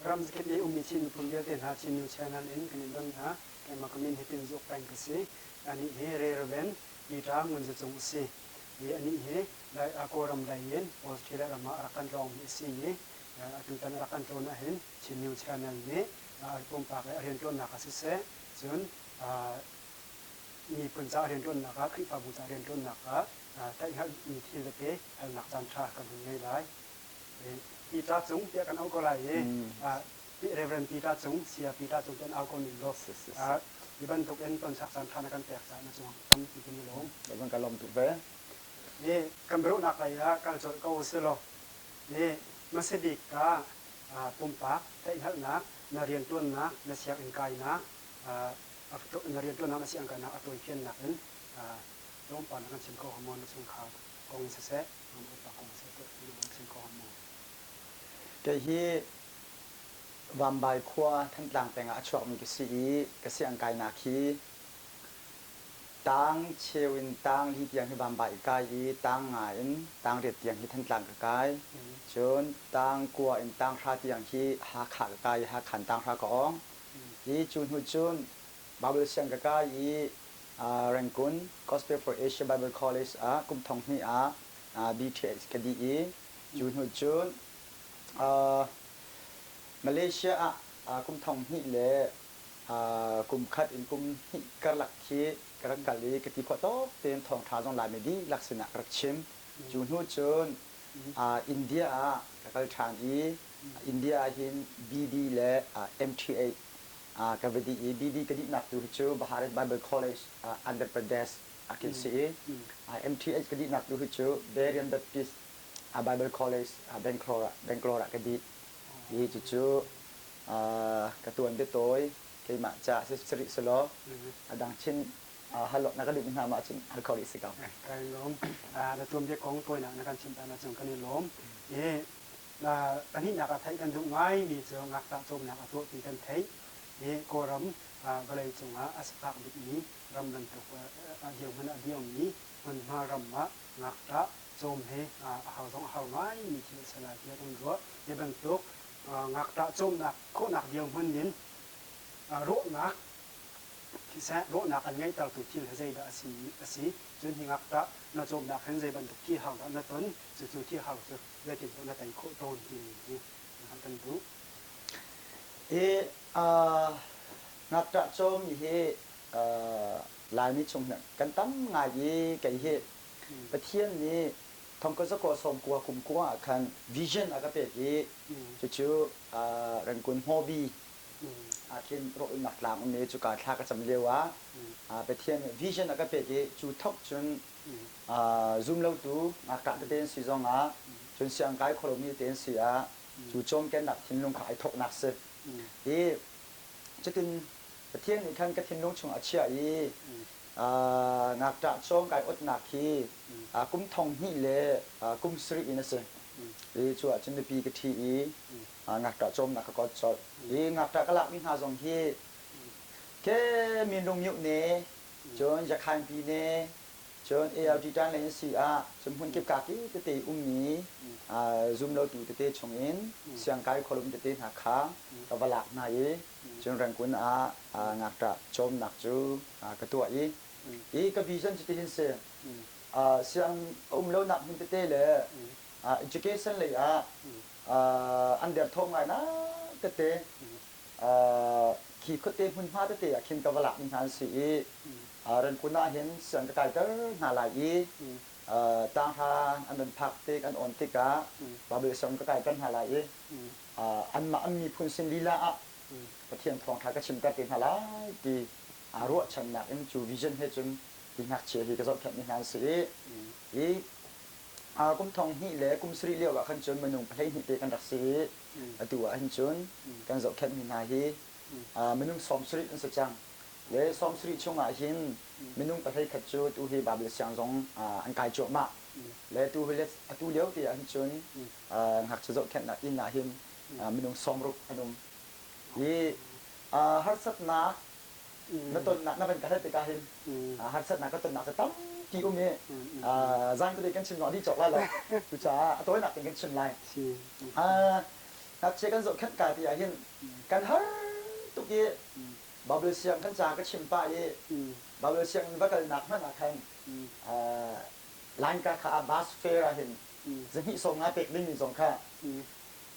Ram zakip i ummi Chin miphun vialte hna Chinyu channel in kan in don hna. Keimah ka min hi Tin Zuuk Peng ka si. Anih hi Rereven Liṭang Ngunzacung a si. I anih hi Kawlram lei in Australia ram ah rak kan tlawng hi a si i atutan rak kan tlawn ahhin Chin New Channel nih pumpak i a rianṭuannak ah siseh, cun miphun caah rianṭuannak ah Khrihfabu caah rianṭuannak ah tlaihhngalhmi thil tete halnak caanṭha kan hun ngei lai. Pita Cung tiah kan auh ko lai i Reverend Pita Cung, Saya Pita Cung tiah an au ko ning law hi bantukin tonsak caanṭha na kan pek caah na cuang tampi kan i lawm. Van ka lawm tuk ve. Kan biaruhnak lei ah kal colh ko usihlaw, hi hmasabik ka pumpak theihhngalhnak, na rianṭuannak na sianginn kainak, na rianṭuannak na sianginn kainak a tuaifiannak in tlawmpal na kan chim ko hnga maw na chungkhar kong in siseh, na upa kong siseh na kan chim ko hnga maw? Kei hi Vambai khua Thantlang peng ah a chuakmi ka si i ka sianginn kainak hi Tang cheu in tang li tiang hi vamva i kai i tang nga in tang riat tiang hi Thantlang ka kai. Cun tang kua in tang hra tiang hi Hakha ka kai i Hakhan tanghra ka awng. Hi cu hnu cun Bible siang ka kai i uh, Rangkun Gospel for Asia Bible College ah kum thong hnih ah uh, BTS ka dih i cu hnu cun uh, Malaysia ah uh, kum thong hnih le kum khat in kum hnih karlak khi ka rak kal i ka ti khawh tawk tein thawngṭha zong Laimi dihlak sinah ka rak chim. Cu hnu cun India ah ka kal ṭhan i India ah hin BB le MTA ka va dih i BB ka dihnak tu hi cu Bharat Bible College Andhra Pradesh ah kin si i MTA ka dihnak tu hi cu Berean Baptist Bible College Bangalore ah ka dih i cucu ka tuan biatawi keimah ca si rih selaw adang chin hal na ka duh hna ma cun hal kho rih si ko kai lawm na tuanbia kong tawina na kan chim ta na chung kan i lawm i pahnihnak ah theih kan duh ngaimi cu ngaktah cawmnak a tuah ti kan theih i kawlram vawlei cungah a sifak bikmi ram bantuk a dirhmun a dirmi hmunhma ram ah ngaktah cawm hi a hau zong a hau ngaimi thil a si lai tiah kan ruah hi bantuk ngakṭah cawmnak khawhnak dirhmun in rawhnak siseh rawhnak an ngeihtertu thil he zeidah a si a si cun hi ngakṭah na cawmnak hin zei bantuk thihar dah na ton cucu thihar cu zeitindah na tei khawh tawn timi hi hngalh kan duh i ngakṭah cawm hi laimi chung kan tam ngai i kei hi Pathian nih Thongkazakaw sawmkua kumkua ah khan vision a ka pek i cucu Rangoon Hmobi ah khin rawhnak tlang um i cuka thla ka cam lioah Pathian vision a ka pek i cu thawk cun zumlotu ngakṭah tete an si zongah cun siangkai khualomi te an si ah cu cawmkennak thinlung kha ai thawknak si i cutin Pathian nih khan ka thinlung chungah a chiah i ngakṭah cawng kai awtnak hi kum thong hnih le kum sarih in a si. Hi cu ahcun mipi ka ṭhi i ngakṭah cawmnak ka kawt colh. Hi ngakṭah ka lakmi hna zong hi ke minrung mioh ne, cun yakhainpi ne, cun Eltitan lei an si ah cun hmun kip kaki tete i ummi zum lotu tete chungin siangkai khualum tete hna kha ka va lak hna i Cun rengkun ah ngakṭah cawmnak cu ka tuah i i ka vision cu tihin si. Siang a um lonak hmun tete le education lei ah an derthawm ngaingai tete, khi khuate hmunhma tete ah khin ka va lakmi hna an si i rengkun ah hin siang ka kaiter hna lai i tanghra an van phak tik, an on tikah Bible song ka kaiter hna lai i anmah an miphun sin lila ah Pathian Thawngṭha ka chimter te hna lai ti aa ruahchannak in cu vision he cun hi ngakchia hi ka zohkhenh mi hna an si i hi kum thong hnih le kum sarih lio ah khan cun minung pahleihnih te kan rak si i atu ah hin cun kan zohkhenh mi hna hi minung sawm sarih an si cang le sawm sarih chung ah hin minung pahlei khat cu tu hi Baibal siang zong an kai cuahmah le tu hi atu lio te ah hin cun ngakchia zohkhenhnak inn ah hin minung sawmruk an um i harsatnak na tonnak na van ka hal tikah hin harsatnak ka tonnak cu tampi um i zaan kuli kan chim nawn dih cawk lai lo cucaah a tawinak in kan chim lai ngakchia kan zohkhenh ka ti ah hin kan har tuk i Baibal siang kan ca ka chim pah i Baibal siang in va kalnak hmanh ah khan Lainka kha Abbas Fair ah hin zahnih sawm nga pek dingmi zong kha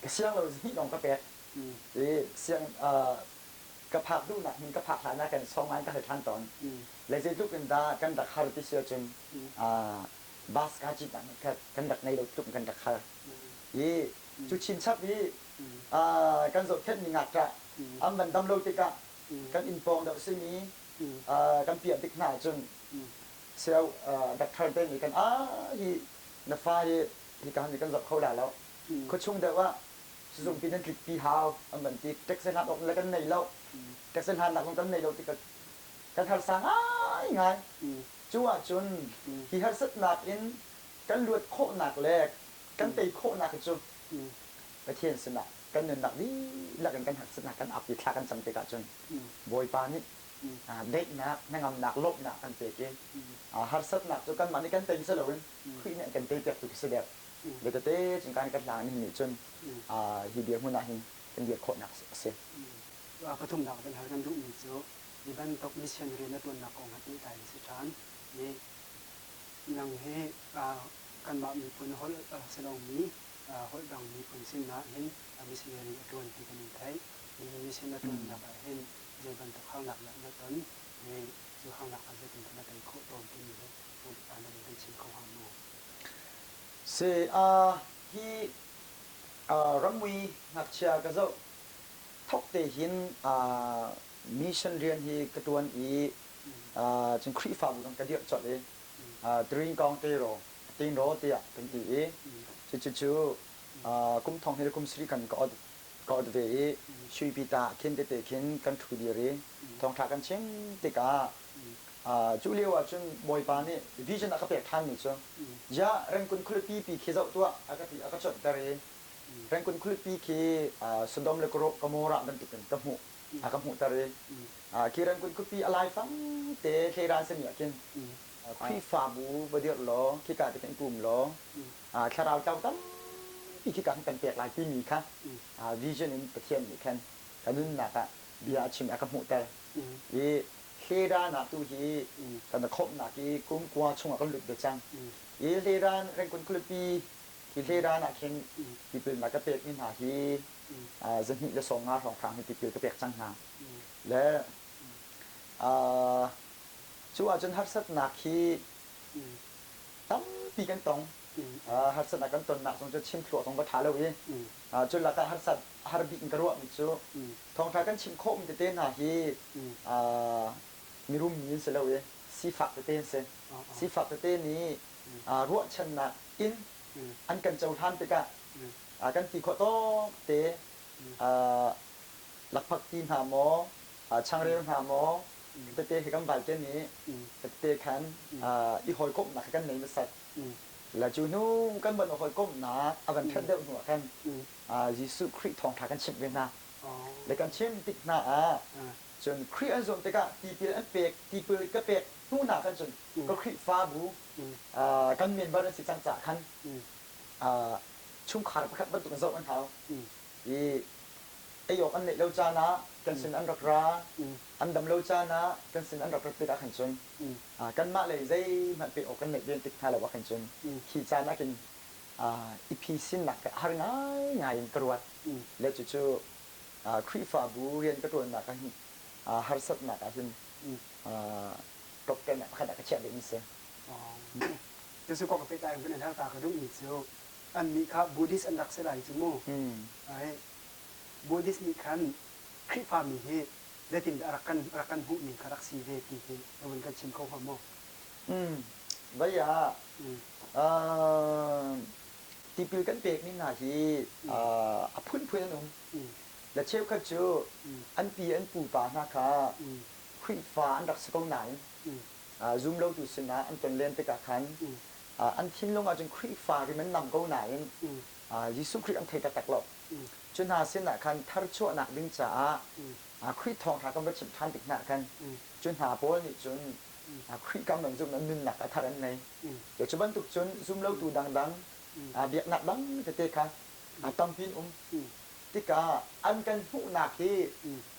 ka siang lo, zahnih lawng ka pek i siang ka phak duhnak hmun ka phak hlan ah kan sawm nga in ka hal ṭhan tawn. Lei zeitluk in dah kan rak har ti si ahcun bus kaa citnak nih kha kan rak ngei lo tluk in kan rak har i cu chinchap i kan zohkhenhmi ngakṭah an van dam lo tikah kan inn pawng deuh simi kan piah tik hna ahcun Seoh, Doctor te nih kan aa hi na fa hi hika han hi kan zoh kho la lo. Khuachung deuh ah sizungpi nan tlikpi hau an van ti. Takse hlan awk le kan nei lo. Takse hlannak zong kan nei lo ti kan harsa ngaingai. Cu ahcun hi harsatnak in kan luat khawhnak le kan tei khawhnak hi cu Pathian sinah kan nunnak dihlak in kan harsatnak kan ap i thla kan cam tikah cun Bawipa nih hna daihnak, hnangamnak, lawmhnak kan pek i harsatnak cu kanmah nih kan tei si loin Khrih nih an kan tei piak tu khi si dek. Bia tete cingka nih kan hla ngan nih cun hi dirhmun ah hin kan dir khawhnak a si. Pathumnak kan hal kan duhmi cu hi bantuk mission rian a tuannak kong he pehtlai in si ṭhan i nang hi kanmah miphun holh si lomi holh dang miphun sin ah hin missionary a ṭuan ti kan in theih. Hihi mission a ṭuannak ah hin Zei bantuk haunak dah na ton i cu haunak ah zeitindah na tei khawh tawn timi hi na upa nih an vun chim kho hnga maw? Saya, hi ramui ngakchia ka zoh thawkte hin mission rian hi ka tuan i cun Khrihfabu dang ka dirh colh i Dringkawng Tero, Tinraw tiah kan ti i cucu kum thong he le kum sarih kan ka audit Ka ot ve i suipi ta khin tete khin kan ṭhu dir i thawngṭha kan chim tikah cu lio ah cun Bawipa nih vision a ka pek ṭhanmi cu, Ziah Rengkun khualipi pi khi zoh tuah, a ka ti, a ka cuanhter i Rengkun khualipi khi Sodom le Gomorrah bantukin ka hmuh, a ka hmuhter i khi Rengkun khuapi a laifang te hlei ran sami ah khin Khrihfabu va dirh law khika te khin kum law thlarau ṭo tampi khi ka hung kan pek lai timi kha vision in Pathian nih khan ka nunnak ah bia a chim a ka hmuhter i hleran ah tu hi kan khawmhnak i kum kua chungah kan lut ve cang i hleran rengkun khualipi hi hleran ah khin tipil na ka pekmi hna hi zahnih le sawm nga hrawnghrang hi tipil ka pek cang hna le cu ahcun harsatnak hi tampi kan tong harsat a kan tonnak zong cu chim thluah zong va ṭha lo i cu lakah harsat har bik in ka ruahmi cu thawngṭha kan chim khawhmi tete hna hi mirum mi an si lo i sifak tete an si sifak tete nih ruahchannak in an kan cohlan tikah kan ti khawh tawkte lakphakti hna maw changreu hna maw tete hi kan valte nih tete khan i hawikomhnak kan nei hmasat la cu hnu kan van hawikomhnak a van ṭhat deuh hnu ah khan Jesuh Khrih thawngṭha kan chimh ve hna le kan chim tik hna ah cun Khrih an zuam tikah tipil an pek tipil ka pek hnunak khan cun ka Khrihfabu kan member an si cang caah khan chungkhar pakhat bantuk in zoh an hau i ei awk an neih lo caan ah kan sin an rak ra, an dam lo caan ah kan sin an rak rat tik ah khan cun kanmah lei zeihmanh pek awk kan neih ven tik hna lo ah khan cun khi caan ah khin i phisinnak kha har ngaingai in ka ruat le cucu Khrihfabu rian ka ṭuannak ah hin harsatnak ah hin ṭawkṭaihnak pakhat ah ka chiah ding a si. Cucu kong ka pehtlai in kan i hal ta ka duhmi cu annih kha Buddhist an rak si lai cu mu. Buddhist nih khan Khrihfami hi zeitindah a rak kan rak kan hmuhning kha rak si ve ti hi na vun kan chim kho hnga maw? Vai ah tipil kan pekmi hna hi a phunphun an um. La cheukhat cu an pi an pupa hna kha Khrihfa an rak si ko nain zumlotu sinah an kan len tikah khan an thinlung ahcun Khrihfa rim an nam ko nain Jesuh Khrih an thei taktak lo. Cu hna sinah khan tharchuahnak ding caah Khrih thawngṭha kan va chimh ṭhan tik hnah khan cu hna pawl nih cun Khrih kam an zumh lo, nunnak a thar an ngei. Cu bantuk cun zumlotu dangdang biaknak dang tete kha tampi in um tikah an kan hmuhnak hi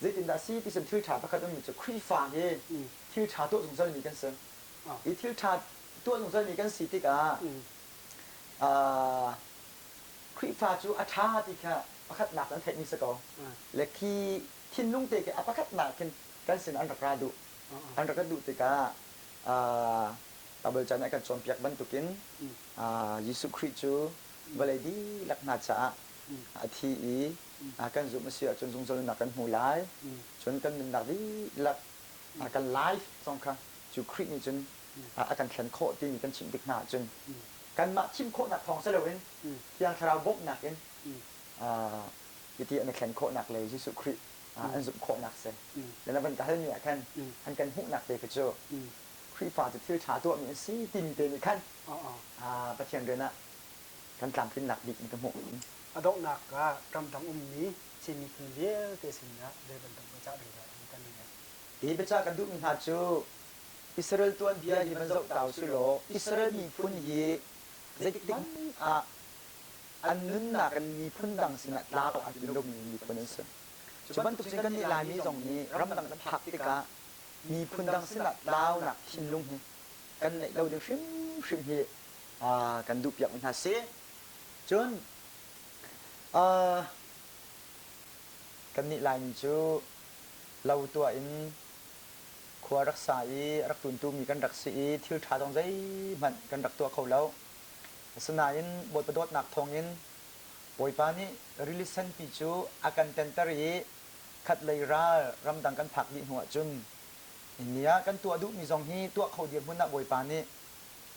Zeitindah a si ti cun thil ṭha pakhat ummi cu Khrihfa hi thil ṭha tuah zungzalmi kan si. Hi thil ṭha tuah zungzalmi kan si tikah Khrihfa cu a ṭha ti kha pakhatnak in an theihmi si ko le khi thinlung te khi a pakhatnak khin kan sin an rak ra duh. An rak ra duh tikah Baibal ca nih a kan cawnpiak bantukin Jesuh Khrih cu vawlei dihlak hna caah a thi i kan zumh a si ahcun zungzal nunnak kan hmu lai cun kan nunnak dihlak a kan life zong kha cu Khrih nih cun a kan thlen khawh timi kan chimh tik hna ahcun kanmah thim khawhnak thawng si loin Thiang Thlarau bawmhnak in hiti an i thlen khawhnak le Jesuh Khrih an zumh khawhnak si. Na van ka halmi ah khan an kan hmuhnak te kha cu Khrihfa cu thil ṭha tuahmi an si timi te nih khan Pathian rian ah kan tlamtlinnak bik in ka hmuh i, A donghnak ah ramdang ummi Chin miphun vialte sinah zei bantuk biacah dingdah hi kan i leh? Hi biacah ka duhmi hna cu, Israel tuanbia hi van zoh ta usihlaw, Israel miphun hi zeitikhmanh ah an nunnak in miphun dang sinah tla awk a tlin lomi miphun an si. Cu bantuk cun kan nih Laimi zong nih ramdang na phak tikah miphun dang sinah tlaunak thinlung hi kan neih lo ding hrimhrim hi kan duhpiakmi hna si. Cun kannih Laimi cu lo tuah in khua rak sa i rak tuntumi kan rak si i thilṭha zong zeihmanh kan rak tuah kho lo. Asinain Bawipa dawtnak thawngin Bawipa nih rili senpi cu a kan tenter i khatlei ral ramdang kan phak dih hnuah cun hi ni ah kan tuah duhmi zong hi tuah kho dirhmun ah Bawipa nih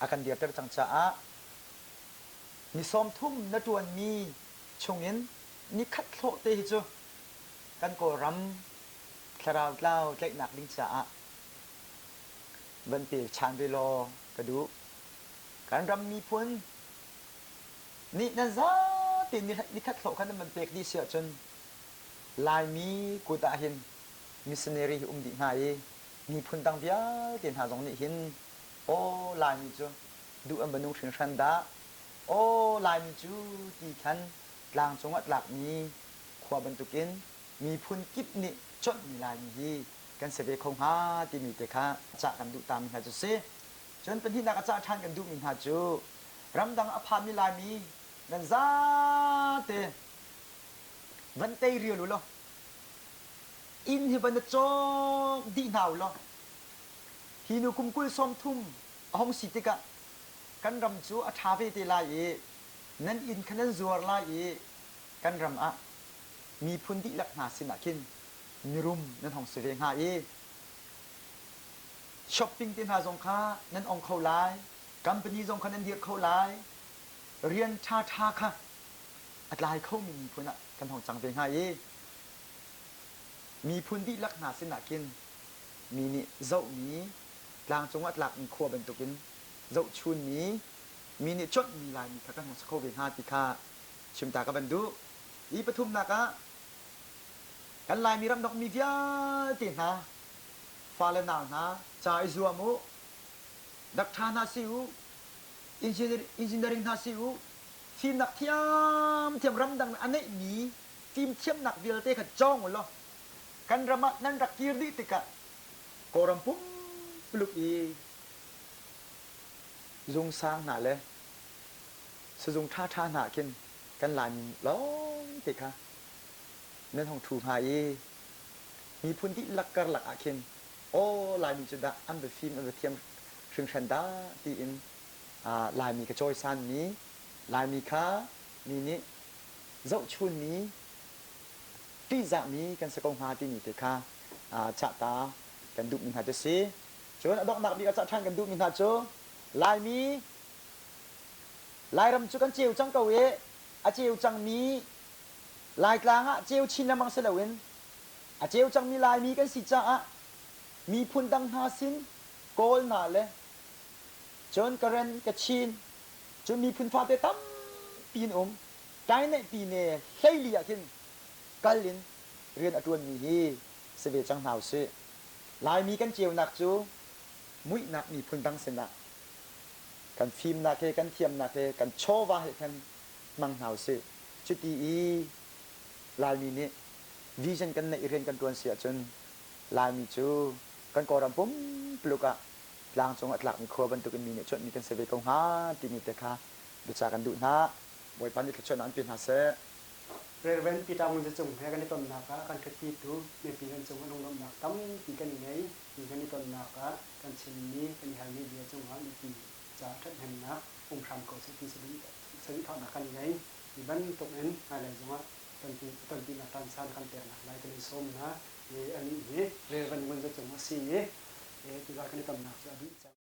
a kan dirter cang caah ni sawmthum na ṭuanmi chungin nikhat hlawh te hi cu kan Kawlram thlarau tlau tlaihnak ding caah van pe chan ve law ka duh. Kan ram miphun nih nan zatin nikhat hlawh khan nan van pek dih si ahcun Laimi kut ah hin missionary um dih hnga i miphun dang vialte hna zong nih hin Aw Laimi cu duh an va nung hringhran dah! Aw Laimi cu ti khan tlangcung ah tlakmi khua bantukin miphun kip nih chawnhmi Laimi hi kan si ve kho hnga timi te kha cah kan duh tami hna cu si. Cun pahnihnak a cah ṭhan kan duhmi hna cu ramdang a phami Laimi nan zate van tei rial ulaw inn hi va na cawk dih hna ulaw Hi nu kum kul sawmthum a hung si tikah kan ram cu a ṭha ve te lai i nan inn kha nan zuar lai i kan ram ah miphun dihlak hna sinah khin mirum nan hong si ve hnga i shopping te hna zong kha nan ong kho lai company zong kha nan dirh kho lai rian ṭha ṭha kha a tlai khomi miphun ah kan hong cang ve hnga i miphun dihlak hna sinah khin mi nih zohmi, tlangcung ah tlakmi khua bantukin zohchunmi, mi nih chawnhmi Laimi kha kan hung si kho ve hna ti kha chim ta ka van duh. I pathumnak ah, kan Laimi ram donghmi vialte hna, fale nau hna, ca i zuam u, dakṭha hna si u, engineering hna si u, fimnak thiamthiam ramdang a neihmi fimthiamnak vialte kha cawng u law Kan ram ah nan rak kir dih tikah Kawlram pumpuluk i zungsang hna le sizung ṭhaṭha hna ah khin kan Laimi lawngte kha nan hung ṭhu hnga i miphun dihlak karlak ah khin aw Laimi cu dah an va fim an va thiam hringhran dah tiin Laimi ka cawisanmi Laimi kha mi nih zohchunmi ṭihzahmi kan si ko hnga timi te kha chahta kan duhmi hna cu si. Cun a donghnak bik a cah ṭhan kan duhmi hna cu Laimi Lairam cu kan ceu cang ko i a ceu cangmi Laitlang ah ceu chin lengmang si loin a ceu cangmi Laimi kan si caah miphun dang hna sin kawl na le cun ka ren ka chin cun miphun fate tampi an um Tainehpine hleili ahkhin kal in rian a ṭuanmi hi si ve cang hna usih. Laimi kan ceunak cu muihnak miphun dang sinah kan fimnak he, kan thiamnak he, kan chawva he khan hmang hna usih. Cuti i Laimi nih vision kan neih i rian kan ṭuan si ahcun Laimi cu kan Kawlram pumpuluk ah tlang cung a tlakmi khua bantukin mi nih cuanhmi kan si ve ko hnga timi te kha biacah kan duh hna. Bawipa nih thluachuahnak an pe hna seh. Rev. Peter Ngun Za Cung he kan i tonnak ah kan khatpitu mipi kan cung a lunglawmhnak tampi kan i ngei ti kan i tonnak ah kan chimmi kan i halmi bia cungah mipi caah ṭhathnemnak um hram ko seh ti si ding sadikhahnak kan i ngei ti bantukin hmailei zongah tonpinak ṭansaan kan peknak lai kan i sawm hna i anih hi Rev. Ngun Za Cung a si i cuka kan i tonnak cu a dih cang.